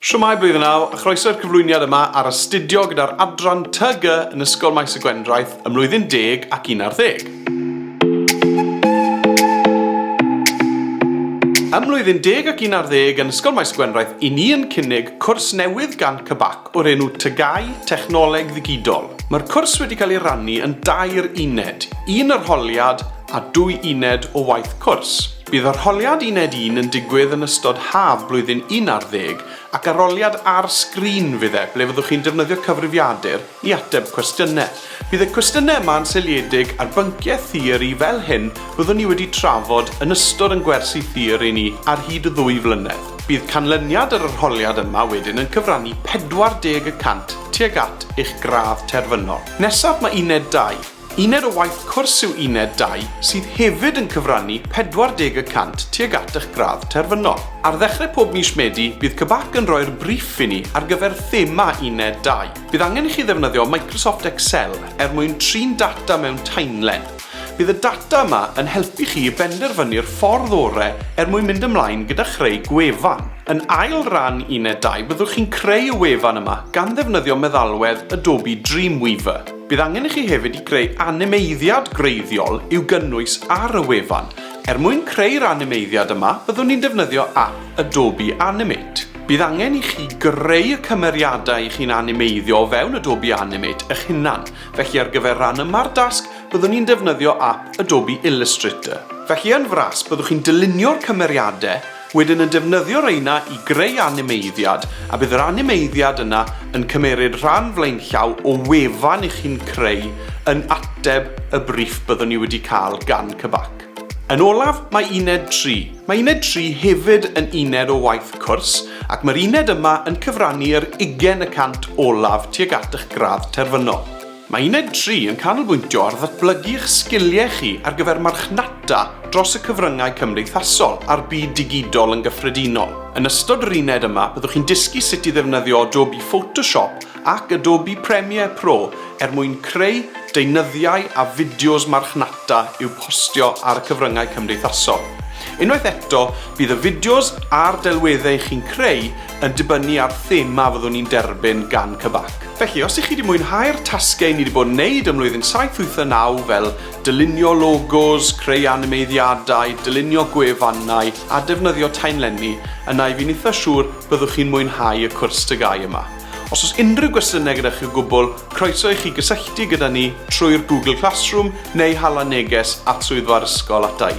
Shwmae Blwyddyn Naw, a chroeso i'r cyflwyniad yma ar astudio gyda'r adran TG yn Ysgol Maes y Gwendraeth ym mlwyddyn deg ac un ar ddeg. Ym mlwyddyn deg ac un ar ddeg yn Ysgol Maes y Gwendraeth i ni yn cynnig cwrs newydd gan CBAC o'r enw TGau, Technoleg Ddigidol. Mae'r cwrs wedi cael ei rannu yn dair uned, un arholiad a dwy uned o waith cwrs. Bydd arholiad uned un yn digwydd yn ystod haf blwyddyn un ar ddeg ac aroliad ar sgrin fydd e, ble fyddwch chi'n defnyddio cyfrifiadur i ateb cwestiynau. Bydd y cwestiynau yma yn seiliedig ar bynciau theori fel hyn fyddwn ni wedi trafod yn ystod yn gwersi theori ni ar hyd y ddwy flynedd. Bydd canlyniad yr arholiad yma wedyn yn cyfrannu 40 y cant tuag at eich gradd terfynol. Nesaf mae uned dau. Uned o waith cwrs yw Uned Dau sydd hefyd yn cyfrannu 40 y cant tuag at eich gradd terfynol. Ar ddechrau pob mis Medi, bydd CBAC yn rhoi'r briff i ni ar gyfer thema Uned Dau. Bydd angen i chi ddefnyddio Microsoft Excel er mwyn trin data mewn taenlen. Bydd y data yma yn helpu chi i benderfynu'r ffordd orau er mwyn mynd ymlaen gyda chreu gwefan. Yn ail ran Uned Dau byddwch chi'n creu y wefan yma gan ddefnyddio meddalwedd Adobe Dreamweaver. Bydd angen i chi hefyd i greu animeiddiad gwreiddiol i'w gynnwys ar y wefan. Er mwyn creu'r animeiddiad yma, byddwn ni'n defnyddio ap Adobe Animate. Bydd angen i chi greu y cymeriadau i chi'n animeiddio o fewn Adobe Animate eich hunan, felly ar gyfer ran yma'r dasg byddwn ni'n defnyddio ap Adobe Illustrator. Felly yn fras byddwch chi'n dylunio'r cymeriadau Wedyn yn defnyddio reina i greu animeiddiad, a bydd yr animeiddiad yna yn cymeryd rhan flaenllaw o wefan i chi'n creu yn ateb y briff byddwn ni wedi cael gan CBAC. Yn olaf, mae uned tri. Mae uned tri hefyd yn uned o waith cwrs, ac mae'r uned yma yn cyfrannu yr ugain y cant olaf tuag at eich gradd terfynol. Mae Uned Tri yn canolbwyntio ar ddatblygu eich sgiliau chi ar gyfer marchnata dros y cyfryngau cymdeithasol a'r byd digidol yn gyffredinol. Yn ystod yr uned yma, byddwch chi'n dysgu sut i ddefnyddio Adobe Photoshop ac Adobe Premiere Pro er mwyn creu deunyddiau a fideos marchnata i'w postio ar y cyfryngau cymdeithasol. Unwaith eto, bydd y fideos a'r delweddau chi'n creu yn dibynnu ar thema fyddwn ni'n derbyn gan CBAC. Felly, os ych chi wedi mwynhau'r tasgau ni wedi bod yn neud ym mlwyddyn saith wyth a naw fel dylunio logos, creu animeiddiadau, dylunio gwefannau a defnyddio taenlenni, yna i fi'n itha siŵr byddwch chi'n mwynhau y cwrs TGAU yma. Os oes unrhyw gwestiynau gyda chi o gwbl, croeso i chi gysylltu gyda ni trwy'r Google Classroom neu hala neges at swyddfa'r ysgol ata i.